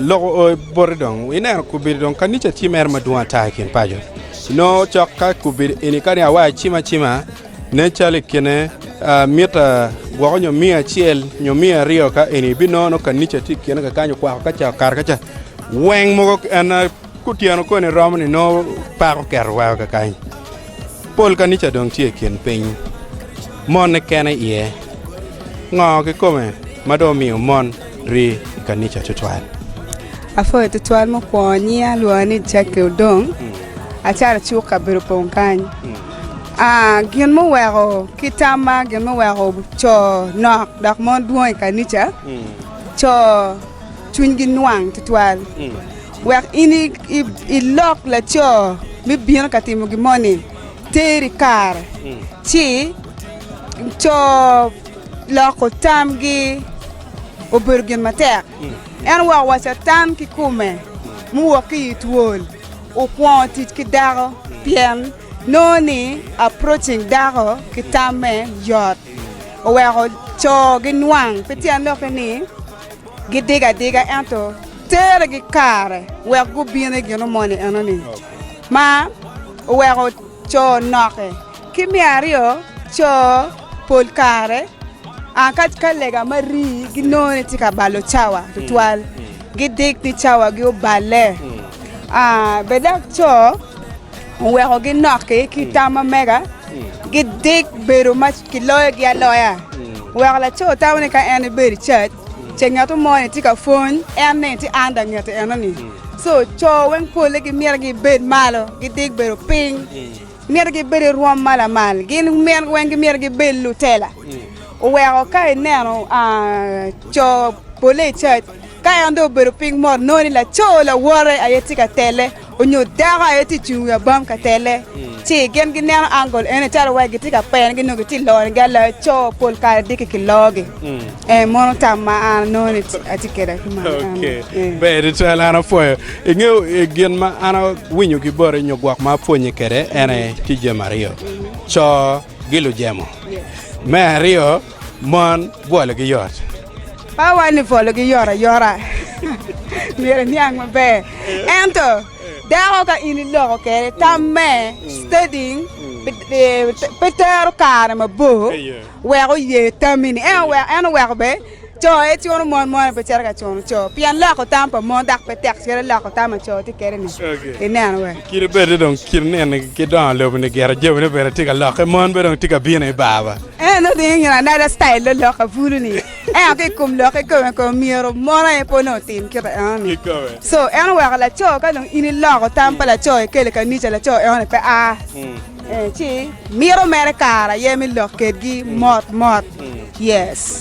Loko boti dong, ineno kobedo dong kanica tye mere madwong ata i kin paco. Nongo cok ka kobedo eni kani awa acim acima nen calo i kine mita gwoko nyo miya acel nyo miya aryo ka eni ibinongo nongo kanica tye i kine kekany okwako kaca okato kaca weng mogo en Kutyeno koni romo ni nongo peko oketo weko kakany. Pol kanica dong tye i kin piny, monne kene iye. Ngo kikome ma dong omiyo mon rii i kanica tutwal? Apwoyo tutwal mukwongo nyinga alwonga ni Jackie Odong, acalo cuk kabedo opong kany. Aa, gin muweko ki tamma gin muweko co nok dok mon dwong i kanica, co cwinygi nwang tutwal. Wek in ilok laco me bino ka timo gin moni, ter i kare, ci co loko tamgi obedo gin matek. En wa owaco atan ki kume, muwok ki i twol, okwongo tic ki dako, pien nongo ni approaching dako ki tamme yot, oweko co ginwang, pi tyen doki ni, Gidiga adiga ento terregi kare wek gubin i gin omoni enoni ma oweko co noke. Ki me aryo, co pol kare ka lega ma rii ginongo ni tye ka balo cawa tutwal, gidik ni cawagi oballe. Bed dok co. Oweko ginokki ki tam ma mega, gidik bedo ma kiloyogi aloya. Oweko laco tamo ni ka en ebedo i cac, ce ngat mo ni tye ka pwony, en ni tye anda ngete enoni. Co co weng polle gimito gibed malo, gidik bedo piny. Gimito gibed i rwom ma lamal, gin mine weng gimito gibed lutela. Oweko ka ineno co polle i cac, ka en dong obedo piny mot, inongo ni laco lawote aye tye ka tele. Onyo dako aye tye cung i wi abam ka telle, ci gin gineno angel ene calo wai gitye ka pene gi nyo gitye ka loro gi aloya co pol kare diki ki logi. Ee mono tam ma an anongo ni atye kede ki mano eno. Ber tutwal an apwoyo. Ingeyo gin ma an awinyo ki boti nyo gwok ma apwonye kede ene tye jami aryo. Co gi lujemo. Me aryo Mon bwologi yot. Pe awaco ni bwologi yot ayota, myero eniang maber. Ento dako ka in iloko kwede tamme, studying, pe tero kare mabor wek oye tammi-ni. En oweko bene co aye cuno mon, mon aye pe cito ka cuno co, pien loko tam pa mon dok pe tek calo loko tam pa co tye kwede-ni. Ineno wee? Kit ma bed-de dong kin neni ki dongo lobo-ni gire, jami-ni bene tye ka lokke, mon bene dong tye ka bino i barwa. En otingo gin anada citayil lolok abulu ni ento ki i kom lokke kome kong myero mon aye pe onongo otim kite enoni. Co, en oweko laco ka dong in iloko tam pa laco ikelo i kanica laco enoni pe a, ci mito mere kare aye me lok kedgi mot mot. Yes.